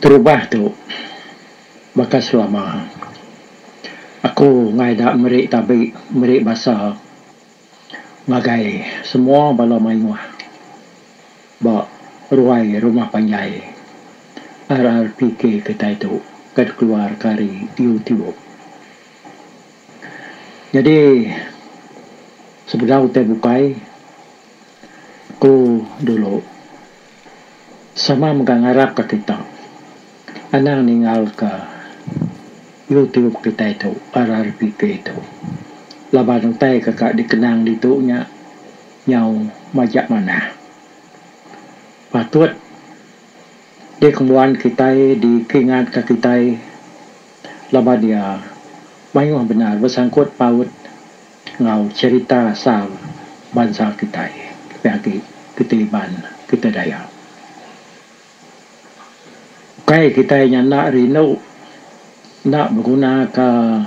Terubah tu baka selama aku ngai da meri tabi meri basa ngagai semua bala mayuh ba ruai rumah panjai RRPK kitai tu ke dikeluar ka ari YouTube. Jadi sebedau utai bukai aku dulu. Sama mega ngarap ka kita anang ningal ka youtube kitai tu rrpk tu laban utai ka ka dikenang ditu nya nyau majak manah patut dikembuan kitai dikingat ka kitai laban iya mayuh bendar besangkut paut. Enggau cherita asal bansa kitai lebih agi kitai Iban, kitai Dayak. Ukai kitai nya enda rindu enda begunaka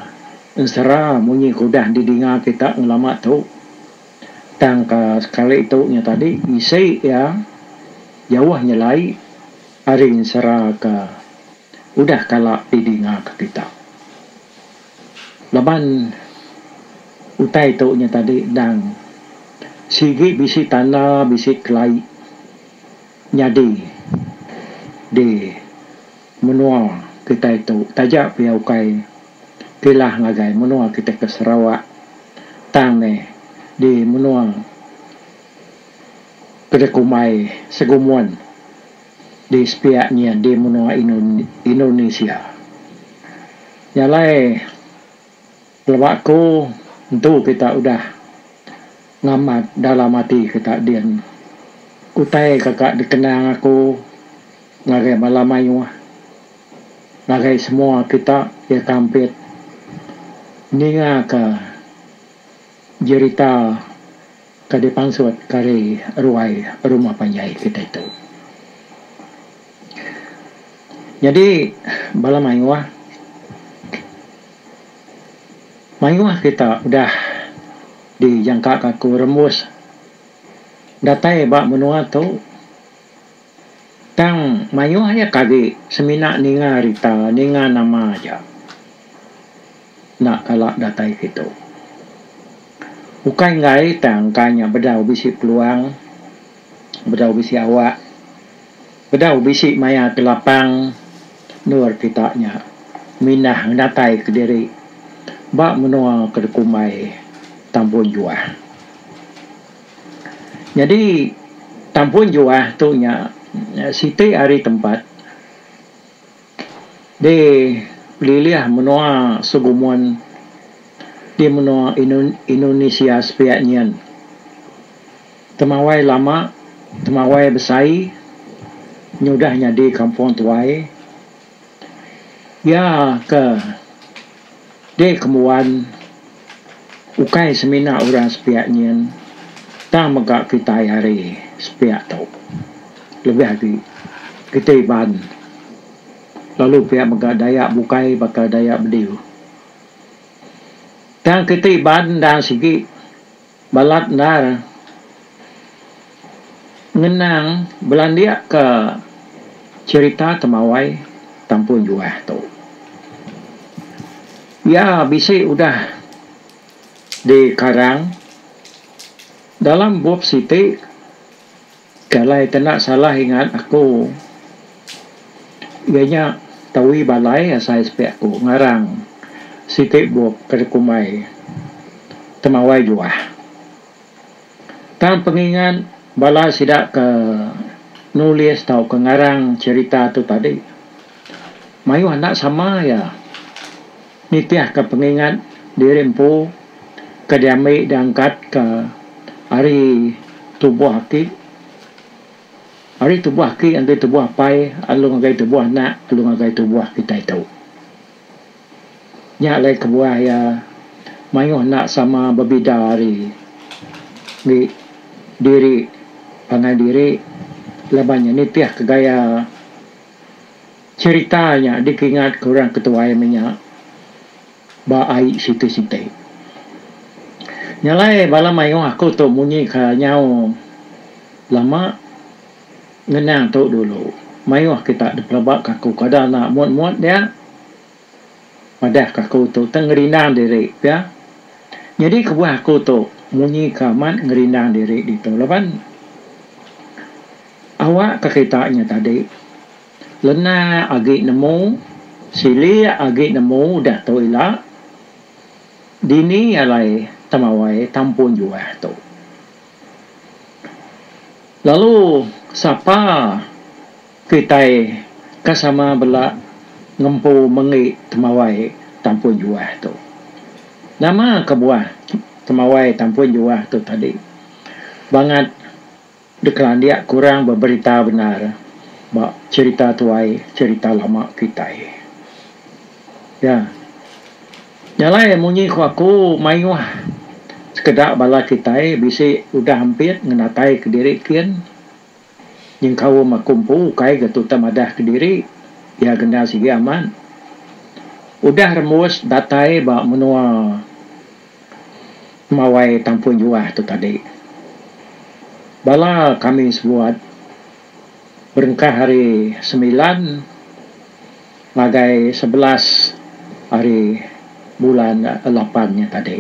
ensera munyi ke udah didinga kita ngelama tu tang ka sekali tu nya tadi isi iya jauh nyelai ari ensera ke udah kala didinga ke kita. Laban utai tu nya tadi endang sigi bisi tanda bisi kelai nyadi di menua kitai tu taja pia ukai kilah ngagai menua kitai ke Sarawak tang meh di menua ke dikumbai Segumun di sepiak nya di menua Indonesia. Nya alai pelaba aku entu kita udah ngamat dalam ati kita din. Utai kaka dikenang aku ngagai bala mayuh ngagai semua kita iya ka ampit ningaka jerita Ka dipansut kari ruai rumah panjai kitai tu. Nyadi bala mayuh, mayuh kita udah dijangkaka ku rembus datai ba menua tu tang mayuh nya kagi semina ninga rita, ninga nama aja. Enda kala datai kitu. Ukai enggai tang ka nya bedau bisi peluang, bedau bisi awak, bedau bisi maya ke lapang endur kita nya mindah ngedatai ke diri ba menua ke dikumbai Tampun Juah. Nyadi Tampun Juah tu nya siti ari tempat. Di pelilih menua segumun di menua Indonesia sepiak nyin, temawai lama, temawai besai nyudah nyadi kampung tuai iya ke. Dek kembuan, ukai semina orang sepiak nyin tang mega kitai ari sepiak tu. Lebih agi, kitai Iban lalu pia mega Dayak bukai baka Dayak Bediu. Tang kitai Iban endang sigi. Balat endar ngenang belandik ke cherita temawai Tampun Juah tu. Iya bisi udah dikarang dalam bup siti. Ke alai kena salah ingat aku iya nya tawi balai asai sepiak aku ngarang siti bup ke dikumbai Temawai Juah. Tang pengingat bala sida ke nulis tauka ngarang cherita tu tadi mayuh enda sama iya. Nitihka pengingat diri empu ke diambi diangkatka ari tubuh aki. Ari tubuh aki ngagai tubuh apai lalu ngagai tubuh anak lalu ngagai tubuh kitai tu. Nya alai kebuah iya mayuh enda sama bebida ari ngi diri pangan diri laban iya nitihka gaya. Cherita nya dikingat ke orang ketuai menya ba ai siti siti. Nya alai bala maioh aku tu munyi ka nyau lama ngenang tu dulu. Maioh kita dipelaba ka aku kada enda mut mut dia madah ka aku tu tang ngerindang diri pia. Nyadi kebuah aku tu munyi ka amat ngerindang diri ditu laban awak ka kita nya tadi. Lena agi nemu, silik agi nemu udah tu ila. Dini alai temawai tampun juah tu. Lalu sapa kitai ke sama bela ngempu menggi temawai tampun juah tu. Nama kebuah temawai tampun juah tu tadi. Bangat. Dikelandik kurang beberita bendar ba cherita tuai cherita lama kitai. Ya. Nya alai munyi ku aku mayuh sekeda bala kitai bisi udah ampit ngenatai kediri kin nyengkaum aku empu ukai ga tuta madah kediri iya kena sigi amat udah rembus datai ba menua Mawai tampun juah tu tadi, bala kami sebuat berengkah ari semilan ngagai sebelas ari bulan lapan nya tadi.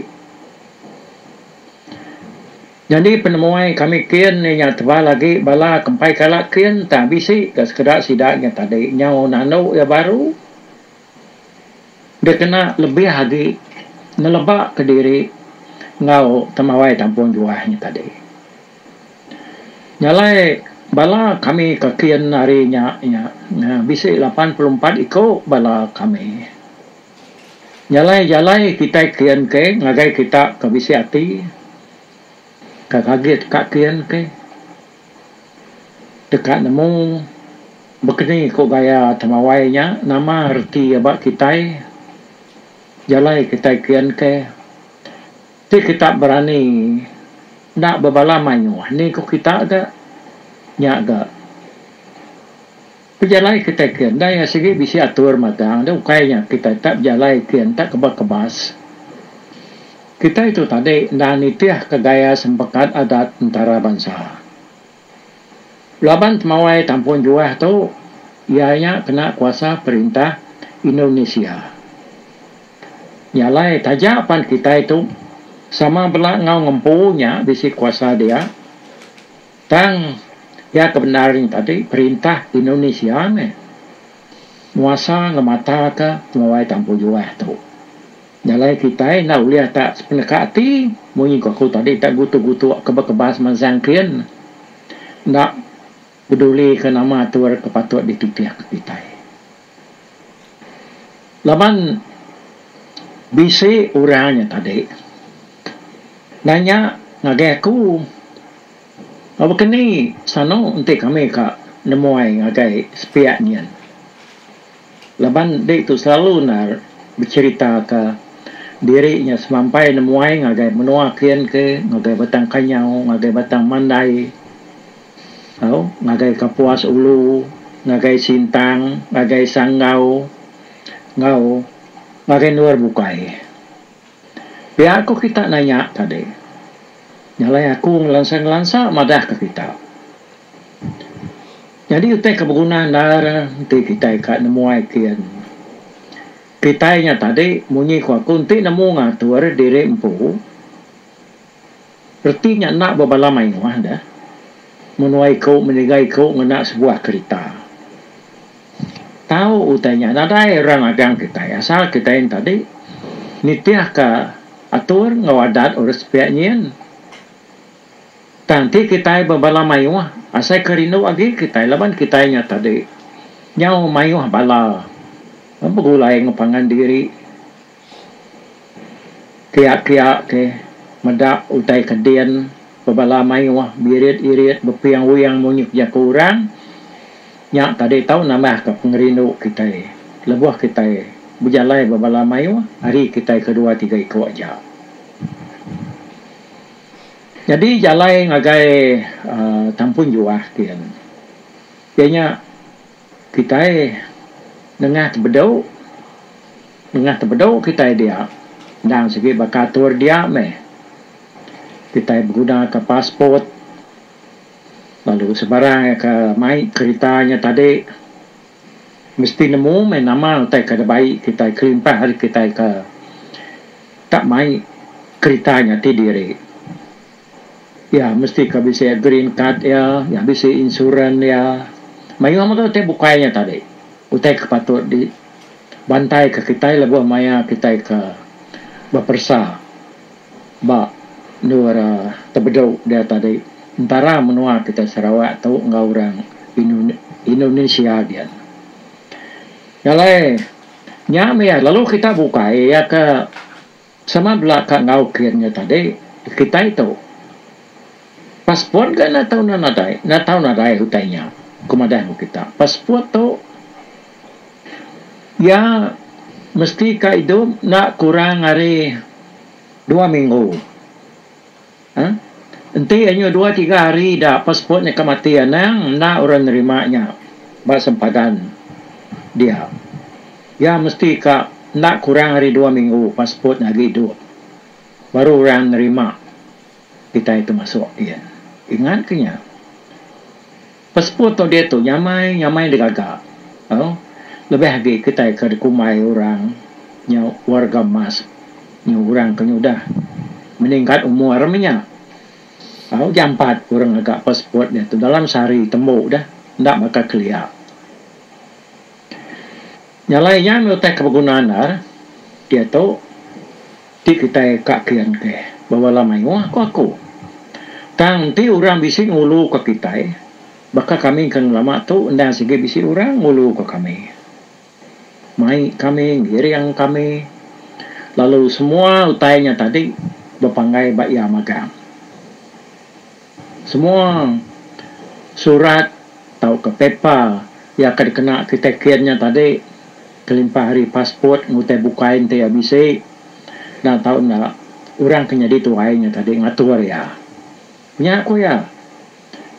Nyadi penemuai kami kin inya tebal agi bala ke empai kala kin tang bisi ka sekeda sida nya tadi nyau nanu iya baru dikena lebih agi ngeleba kediri enggau temawai kampung juah nya tadi. Jalai bala kami ka kin hari nya nya bisi lapan puluh empat iku bala kami. Jalai jalai kitai kin ke ngagai kita ke bisi ati ka ngagai ka kin ke. Deka nemu bekeni ko gaya temawai nya nama reti iya ba kitai jalai kitai kian ke ti kita berani enda bebala mayuh ni ko kita ga nya ga. Pejalai kitai ke enda iya sigi bisi atur magang enda ukai nya kitai tak bejalai ke enda kebas-kebas. Kitai tu tadi enda nitihka gaya sempekat adat entara bansa. Laban temawai tampung juah tu iya nya kena kuasa perintah Indonesia. Nya alai taja pan kitai tu sama bela enggau ngempu nya bisi kuasa dia. Tang iya ke bendar nya tadi perintah Indonesia meh nguasa ngemataka pengawai tampu juah tu. Jalai kitai enda ulih tak sepeneka ati munyi ku aku tadi tak gutuk-gutuk kebas-kebas mansang kin enda pedulika nama atur ke patut dititihka kitai. Laban bisi orang nya tadi nanya ngagai aku ngagai baka ni sanu enti kami ka nemuai ngagai sepiak nyin laban ditu selalu ne becerita ka diri nya semampai nemuai ngagai menua kin ke ngagai batang kanyau ngagai batang mandai. Tau ngagai kapuas ulu, ngagai sintang, ngagai sanggau enggau ngagai endur bukai. Pia ko kita nanya tadi. Nya alai aku ngelansa-ngelansa madah ka kita. Nyadi utai ka beguna endar enti kitai ka nemuai kin. Kitai nya tadi munyi ko aku enti nemu ngatur diri empu. Reti nya enda ba bala mayuh dah. Menua iku menyiga iku ngena sebuah kerita. Tau utai nya nadai orang agang kitai asal kitai enda tadi nitihka atur enggau adat orang sepiak nyin. Tang ti kitai ba bala mayuh asaika rindu agi kitai laban kitai nya tadi nyau mayuh bala begulai enggau pangan diri. Kiak kiak ke meda utai ke din bebala maioh birit irit bepiang wiang munyi ke jaku urang nya tadi tau nambah ke pengerindu kitai lebuh kitai bejalai bebala maioh ari kitai ke dua tiga iko aja. Nyadi jalai ngagai aaa tampun juah gin. Iya nya. Kitai nengah tebedu. Nengah tebedu kitai dia endang sigi baka atur dia meh. Kitai begunaka passport lalu sebarang iya ke mai kerita nya tadi mesti nemu meh nama utai ke dibai kitai kelimpah ari kitai ke ka mai kerita nya ti diri. Iya mesti ka bisi green card iya, iya bisi insurans iya. Mayuh mega utai bukai nya tadi utai ke patut di bantai ka kitai lebuh maya kitai ke beperesa ba endur tebedu dia tadi entara menua kitai Sarawak tu enggau orang Indonesia gian. Nya alai nya mih iya lalu kitai bukai iya ke Sama bela ka enggau kin nya tadi, kitai tu passport ga enda tau enda nadai, enda tau nadai utai nya, ku madah enggau kita. Passport tu iya mesti ka idup enda kurang ari dua minggu. Enti anyu dua tiga hari ida passport nya ka mati anang enda orang nerima nya ba sempadan dia. Iya mesti ka enda kurang ari dua minggu passport nya agi idup baru orang nerima kitai tu masuk gin. Ingat ke nya. Peseput tu diatu nyamai nyamai enda gaga au lebih agi kitai ke dikumbai orang nya warga emas nya orang ke nyudah meningkat umur menya au jampat orang ngaga passport diatu dalam sehari tembu dah enda baka kelia. Nyalai iya meh utai ke beguna andar diatu ti kitai ka kian ke ba bala mayuh ku aku. Tang enti orang bisi ngulu ka kitai baka kami ke ngelama tu enda sigi bisi orang ngulu ka kami. Mai kami ngiring kami lalu semua utai nya tadi bepanggai ba iya magang. Semua surat tauka paper iya ke dikena kitai kin nya tadi kelimpah ari passport enggau utai bukai enti iya bisi dan tau enda orang ke nyadi tuai nya tadi ngatur iya. Nya ku iya.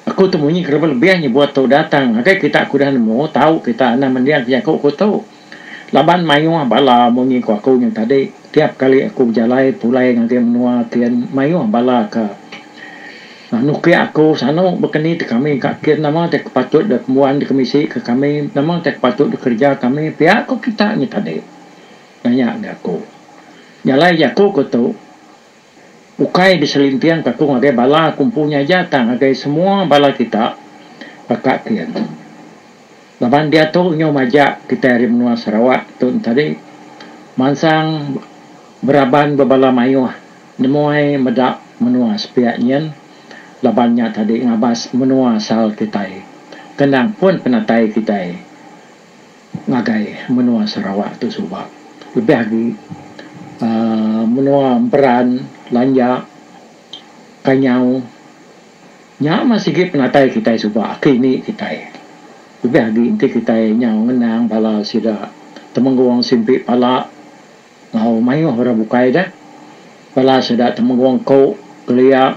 Aku tu munyi kelebih-lebih nyebut tu udah tang ngagai kita ke udah nemu tau kita anang mending ke jaku aku tu. Laban mayuh bala munyi ku aku nya tadi, tiap kali aku bejalai pulai ngagai menua kin mayuh bala ke nukik aku sanu bekeni ti kami ka kin nama ti ke patut dep mbuan deka misi ke kami nama ti patut deka kerja kami pia ku kita nya tadi nanya ngagai aku. Jalai jaku ku tu. Ukai beselinting takung ngagai bala aku empu nya aja tang ngagai semua bala kita baka kin. Laban diatu nyau majak kitai ari menua Sarawak tu enti ari mansang beraban ba bala mayuh nemuai meda menua sepiak nyin laban nya tadi ngabas menua asal kitai. Kenang pun penatai kitai. ngagai menua Sarawak tu suba lebih agi menua Emperan, Lanjak, Kanyau nya mah sigi penatai kitai suba aki indi kitai lebih agi enti kitai nyau ngenang bala sida Temenggong Simpi Pala enggau mayuh orang bukai deh bala sida Temenggong Ko Kelia.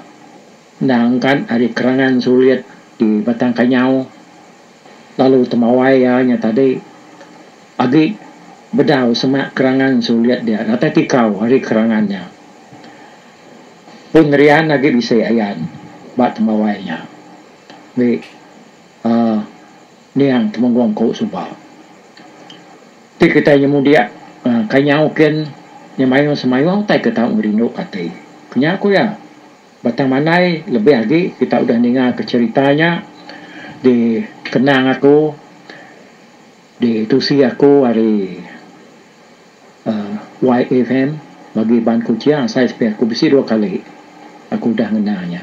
Enda angkat ari kerangan sulit di Batang Kanyau lalu temawai iya nya tadi agi bedau semak kerangan sulit dia datai tikau ari kerangan nya. Pun rian agi bisi ayan ba temawai nya meri uhh niang Temunggong Kau suba. Ti kitai nyemudik uhh Kanyau kin nya mayuh semayuh utai ke tau ngerinduka ati. Ku nya ku iya. Batang Mandai lebih agi kita udah ningaka cherita nya di kenang aku di tusi aku ari uhh YFM bagi band Kuching asai sepiak aku bisi dua kali aku udah ngena nya.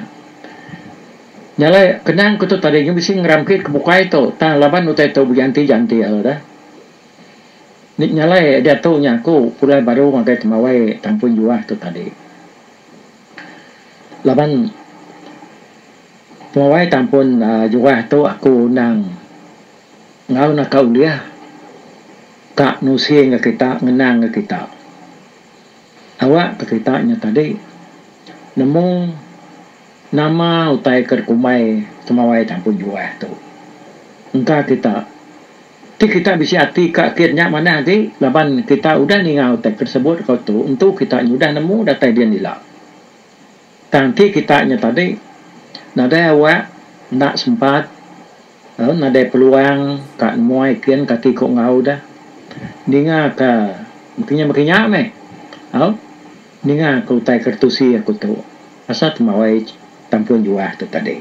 Nya alai kenang aku tu tadi nya bisi ngeramkit ke bukai tu tang laban utai tu beganti ganti lalu dah. Nya alai diatu nya aku pulai baru ngagai temawai tang pun juah tu tadi. Laban penguai tampun aaa juah tu aku undang enggau naka ulih ka nusi enggau kita ngenang enggau kita awak ka kita nya tadi nemu nama utai ke dikumbai temauai tampun juah tu engka kita Ti kita bisi ati ka kit nya manah agi laban kita udah ninga utai ke disebut dikau tu entu kita nya udah nemu datai din ila. Tang ti kita nya tadi nadai awak enda sempat lalu nadai peluang ka nemuai kin kati ku enggau deh ninga ka bekinya bekinya meh au ninga ka utai ke ditusi aku tu pasal temawai tampun juah tu tadi.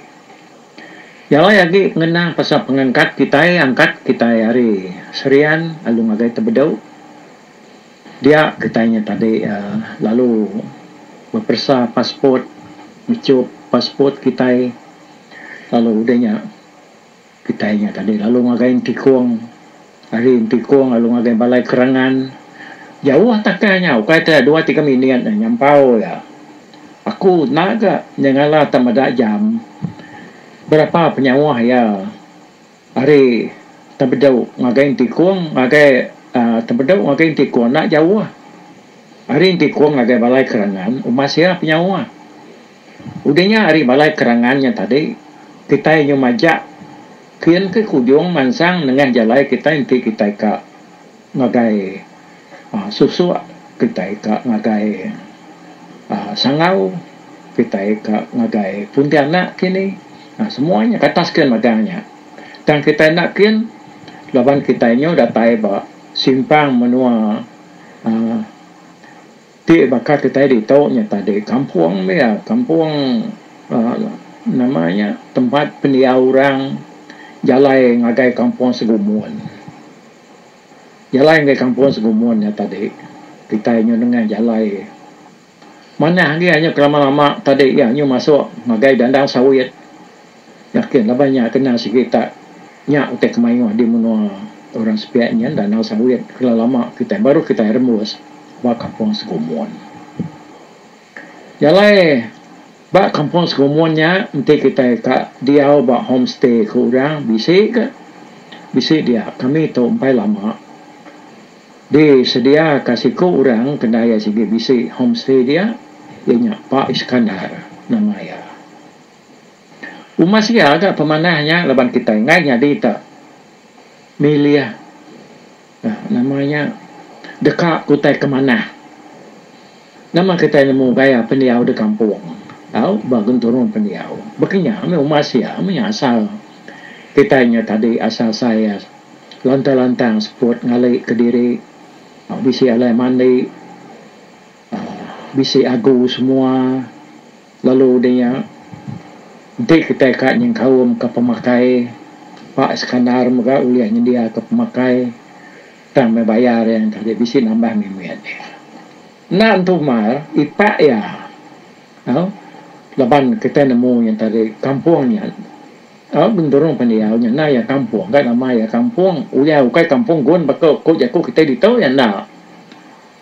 Iya alai agi pengenang pasal pengangkat kitai angkat kitai ari Serian lalu ngagai Tebedu. Dia kitai nya tadi uhh lalu beperesa passport, ngechup passport kitai lalu udah nya kitai nya tadi lalu ngagai entikong. Ari Entikong lalu ngagai Balai Kerangan. Jauh takai nya ukai ke dua tiga minit nya nyampau iya. Aku enda ga nyengala tak meda jam berapa penyauh iya ari Tempedu ngagai Entikong ngagai uhh Tempedu ngagai Entikong enda jauh. Ari Entikong ngagai Balai Kerangan uma sia penyauh. Udah nya ari Balai Kerangan nya tadi kitai nyau majak. Kin ke kujung mansang nengah jalai kitai enti kitai ka ngagai aaa susuk kitai ka ngagai aaa sangau kitai ka ngagai puntianak kini aaa semua nya katas kin mega nya tang kitai enda kin laban kitai nyu datai ba simpang menua aaa Ti baka kitai ditu nya tadi kampung dia, kampung nama nya tempat pendiau orang jalai ngagai kampung segumun. Jalai ngagai kampung segumun nya tadi kitai nyau nengah jalai manah agi anyu ke lama-lama tadi iya anyu masuk ngagai dandang sawit. Yakin laban nya kena sigi utak nya utai ke mayuh di menua orang sepiak nyin Danau Sawit kelo lama kitai baru kitai rembus ba Kampung Segumun. Nya alai ba Kampung Segumun nya enti kitai ka diau ba home stay ke orang bisi ga bisi dia kami tu empai lama di sedia ka siku orang kena iya sigi bisi home stay dia iya nya Pak Iskandar nama iya. Umas nya ga pemanah nya laban kitai enggai nyadi ta milih uhh nama nya deka ku utai ke manah. Nama kitai nemu gaya pendiau da kampung tau ba genturung pendiau. Ba kinya meh umas iya meh nya asal kitai nya tadi asal saya lantang-lantang seput ngali ke diri uhh bisi alai mandi uhh bisi agu semua. Lalu udah nya, enti kitai ka nyengkaumka pemakai, Pak Iskandar mega ulih nyendiaka pemakai tang meh bayar iya enti agi bisi nambah meh mit iya. Enda entu mar, ipak iya. Au, laban kitai nemu iya enti ari kampung nya, au, genderung pan iya, au nyana iya kampung ka, nama iya kampung, uliah ukai kampung gun baka ku jaku kitai ditu iya enda.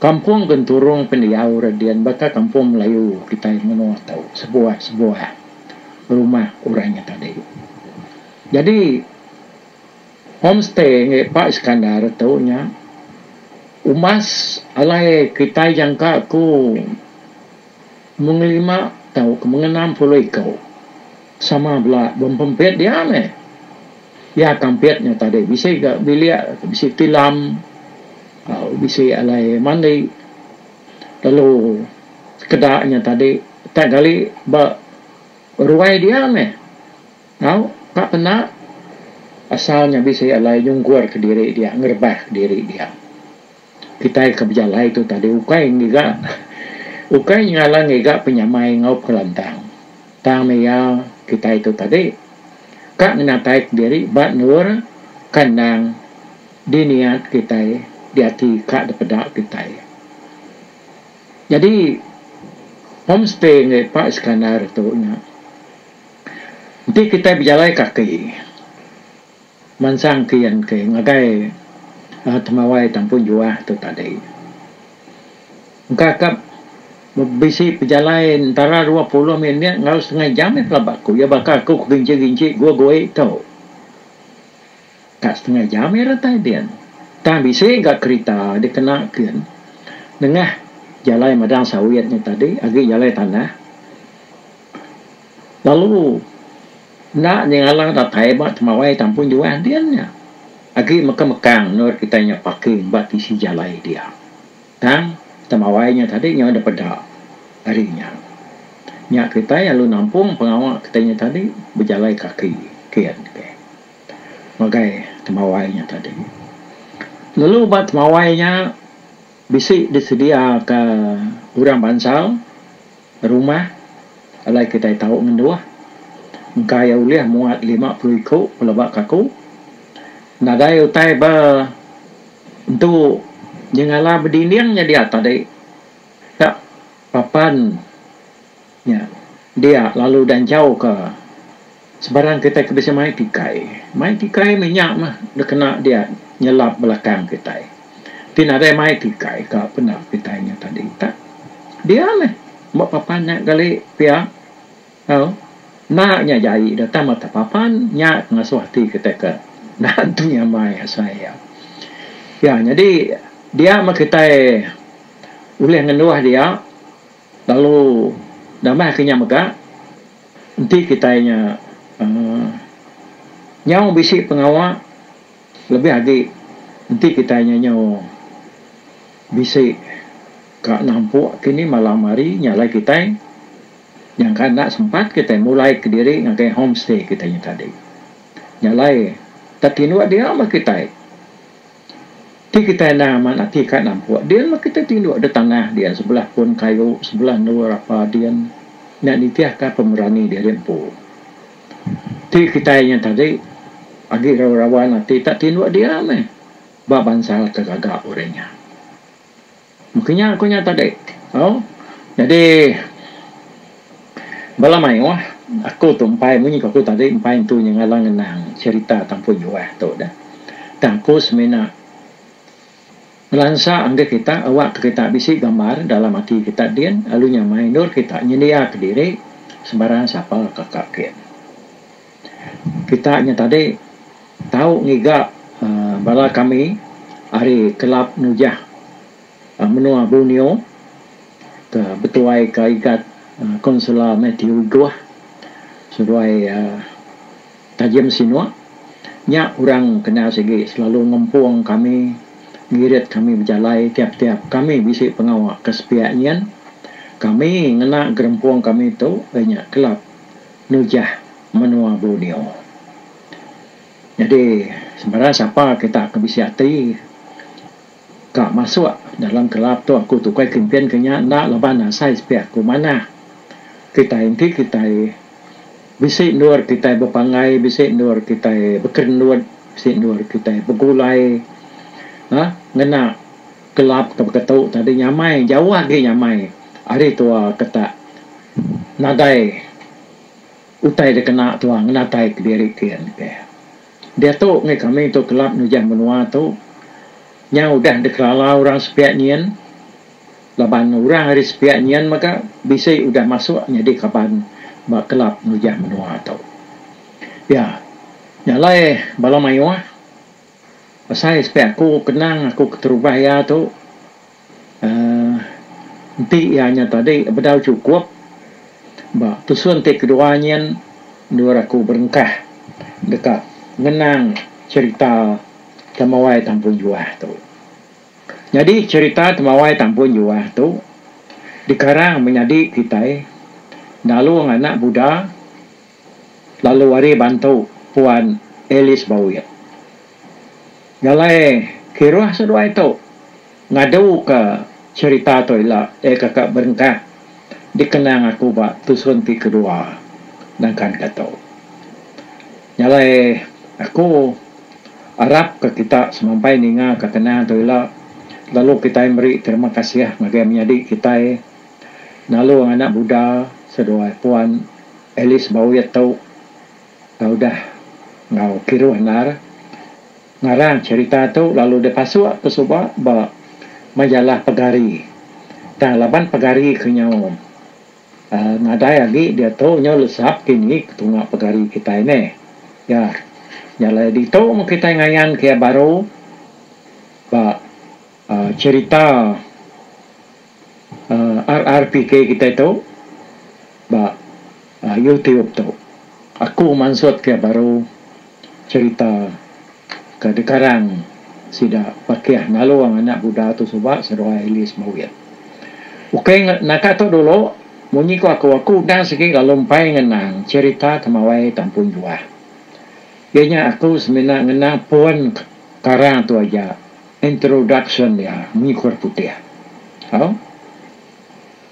Kampung Genturung pendiau Radin baka kampung Melayu kitai menua tu sebuah-sebuah rumah orang nya tadi. Jadi home stay ngagai Pak Iskandar tu nya umbas alai kitai jangka ku. Mung lima tau ke mung enam puluh iko sama bela bempempit dia meh. Iya tampit nya tadi bisi ga bilik bisi tilam au bisi alai mandi lalu sekeda nya tadi tak gali ba ruai dia meh au ka pena asal nya bisi alai nyungkur kediri dia ngerebah kediri dia. Kitai ke bejalai tu tadi ukai ngiga ukai nyengala ngiga penyamai enggau pengelantang. Tang meh iya kitai tu tadi ka ngenataika diri ba endur kandang di niat kitai di ati ka dipeda kitai. Jadi home stay ngagai Pak Iskandar tu nya enti kitai bejalai kaki. Mansang ke iya engke ngagai temawai tampung juah tu tadi. Engka ka bisi pejalai entara dua puluh minit enggau setengah jam iya pelaba aku. Iya baka aku ke ginci-ginci gua goi tu. Ka setengah jam iya datai din. Tang bisi ga kerita dikena kin nengah jalai madang sawit nya tadi agi jalai tanah. Lalu enda nyengala datai ba temawai tampung juan din nya agi mekang-mekang endur kitai nya parking ba tisi jalai dia. Tang temawai nya tadi nyau dep peda ari nya. Nya kitai alu nampung pengawa kitai nya tadi bejalai kaki ken ke ngagai temawai nya tadi. Lalu ba temawai nya bisi disediaka orang bansa. Rumah, alai kitai tau ngenduh. Engka iya ulih muat lima puluh iku pelaba kaku. Nadai utai ba entu nyengala bedinding nya dia tadi. Ka papan nya dia lalu udah enchauka. Sebarang kitai ke bisi mai tikai. Mai tikai meh nya meh deh kena dia nyelap belakang kitai. Ti nadai mai tikai ka peda kitai nya tadi tak. Dia meh ba papan nya gali pia au enda nya jai deh tang mata papan nya ke ngasuh ati kitai ke enda nentu nyamai asai iya. Iya nyadi dia meh kitai ulih ngenduh dia. Lalu damai ke nya mega, enti kitai nya uhh nyau bisi pengawa lebih agi enti kitai nya nyau bisi ka nampuk kini malam hari nya alai kitai nyangka enda sempat kitai mulai kediri ngagai homestay kitai nya tadi. Nya alai tak tinduk dia meh kitai. Ti kitai endang amat ati ka nampuk din meh kitai tinduk da tanah din sebelah pun kayu sebelah endur rapa din nya nitih ka pemerani diri empu. Ti kitai nya tadi agi rawa rawan ati tak tinduk dia meh ba bansa ke gaga urang nya. Mungkin nya aku nya tadi tau jadi bala maioh aku tu empai munyi ku aku tadi empai entu nya ngalang ngenang cerita tampu juah tu dah tang aku semina ngelansa enggih kita awak ke kita bisi gambar dalam ati kita din lalu nya mai endur kita nyendia kediri sembarang sapa ka ka kin. Kita nya tadi tau ngiga uhh bala kami ari kelab nujah uhh menua Borneo ke betuai ka igat uhh Councilor Mathew Goh seduai uhh Tajim Sinok. Nya orang kena sigi selalu ngempung kami, ngirit kami bejalai tiap-tiap kami bisi pengawa ke sepiak nyin. Kami ngena gerempung kami tu iya nya kelab. nujah menua Borneo. Nyadi sebarang sapa kita ke bisi ati ka masuk dalam kelab tu aku tukai kempen ke nya enda laban asai sepiak aku manah kitai enti kitai bisi endur kitai bepanggai bisi endur kitai bekerendut bisi endur kitai begulai aaa ngena Kelab ke beketu tadi nyamai jauh agi nyamai ari tua ke tak nadai utai dikena tua ngenatai kediri kin ke. Diatu ngi kami tu kelab nujah menua tu nya udah dikerala orang sepiak nyin laban orang ari sepiak nyin mega bisi udah masuk nyadi kaban ba kelab nujah menua tu. Ya nya alai bala mayuh. Besai sepiak aku kenang aku keterubah iya tu uhh enti iya nya tadi bedau chukup ba tusun ti kedua nyin endur aku berengkah deka ngenang cherita Temawai Tampun Juah tu. Nyadi cherita Temawai Tampun Juah tu dikarang menyadi kitai Dalung Anak Buda. Lalu ari bantu Puan Alice Bauit, ngalai kiruh seduai tu ngaduka cherita tu ila iya kaka berengkah dikenang aku ba tusun ti kedua nangkanka tu. Ngalai aku arapka kita semampai ningaka kenang tu ila lalu kitai meri terima kasih ngagai menyadi kitai. Nalung anak muda seduai Puan Alice Bowit tu tau deh enggau kiruh endar ngarang cherita tu lalu deh pasuk ke suba ba majalah Pegari. Tang laban Pegari ke nyau uhh nadai agi diatu nyau lesap kini ke tunga Pegari kitai neh. Ya nyalai ditu meh kitai ngayan ke iya baru ba uhh cherita. RRPK kitai tu ba YouTube tu. Aku mansut ke baru cerita ke dikarang sida Pakih Ngalung anak buda tu suba seduai Ellis Bawit. Ukai naka tu dulu munyi ku aku aku udah sigi lalu empai ngenang cerita Temawai Tampung Juah. Iya nya aku semina ngenang pun karang tu aja. Introduction iya mengikor putih. Au.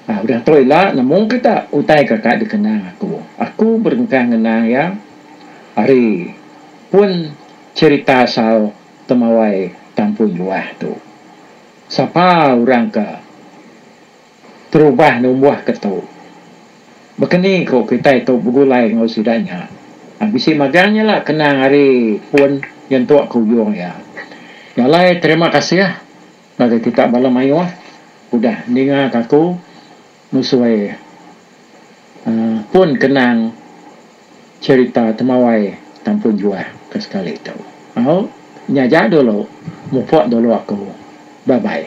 Au udah tu ila nemu kita utai ke ka dikenang aku. Aku berengkah ngenang iya ari pun cherita asal temawai Tampuin Luah tu. Sapa orang ke Terubah numbuh ke tu. Baka ni ko kitai tu begulai enggau sida nya. Bisi magang nya la kenang ari pun nyentuk ke uyung iya. Nya alai terima kasih ngagai kita bala mayuh udah ninga ke aku nusui uhh pun kenang cerita temawai Tampun Juah ke sekali tu. Au nya aja dulu mupuk dulu aku. Bye bye.